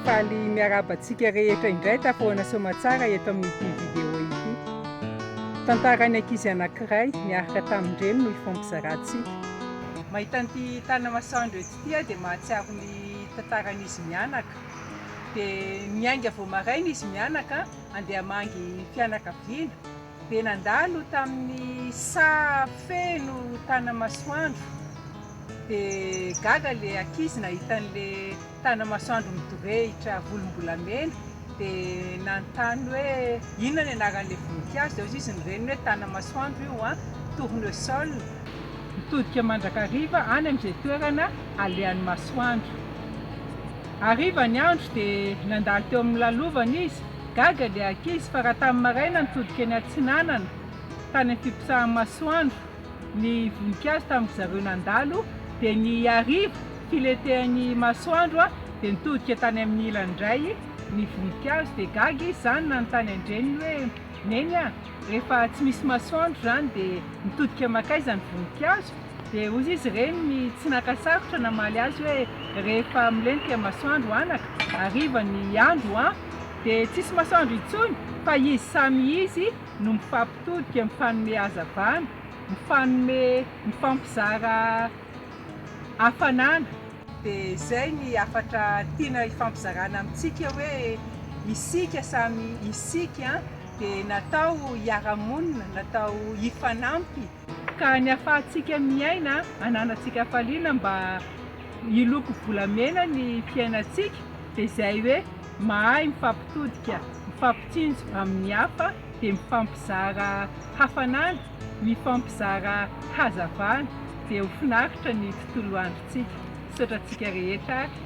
Faly miarahaba antsika rehetra indray tafahoana soamatsara eto amin'ity vidéo ity. Tantaran'ny ankizy anankiray niaraka tamin-dreny no hifampizarantsika. Mahita an'ity tanamasoandro eto ity aho dia mahatsiaro ny tantaran'izy mianaka. Dia miainga vao maraina izy mianaka handeha hamangy fianakaviana. Dia nandalo tamin'ny saha feno tanamasoandro, dia gaga ilay ankizy nahita an'ilay tanamasoandro midorehitra volombolamena, dia nanontany hoe inona ny anaran'ilay voninkazo, dia hoy izy ny reniny hoe tanamasoandro io an, tournesol. Nitodika mandrakariva any amin'izay toerana alehan'ny masoandro. Hariva ny andro dia nandalo teo amin'ny lalovana izy. Gaga ilay ankizy fa raha tamin'ny maraina nitodika eny atsinanana tany amin'ny fiposahan'ny masoandro ny voninkazo tamin-dry zareo nandalo dia ny hariva filentehan'ny masoandro dia nitodika tany amin'ny ilany indray ny voninkazo dia gaga izy izany nanontany an-dreniny hoe, Neny a! Rehefa tsy misy masoandro izany dia mitodika mankaiza ny voninkazo? Dia hoy izy ireny ny tsy naka sarotra namaly azy hoe, Rehefa milentika ny masoandro anaka, hariva ny andro an! dia tsisy masoandro intsony fa izy samy izy no mifampitodika, mifanome hazavana, mifanome, mifampizara hafanana. Dia izay ny hafatra tiana hifampizarana amintsika hoe isika samy isika an! dia natao hiara-monina, natao hifanampy. Ka ny ahafahantsika miaina, ananantsika hafaliana mba hiloko-bolamena ny fiainantsika dia izay hoe mahay mifampitodika, mifampitsinjo amin'ny hafa dia mifampizara hafanana, mifampizara hazavana dia ho finaritra ny tontolo androntsika. antsika. Misaotra antsika rehetra ary.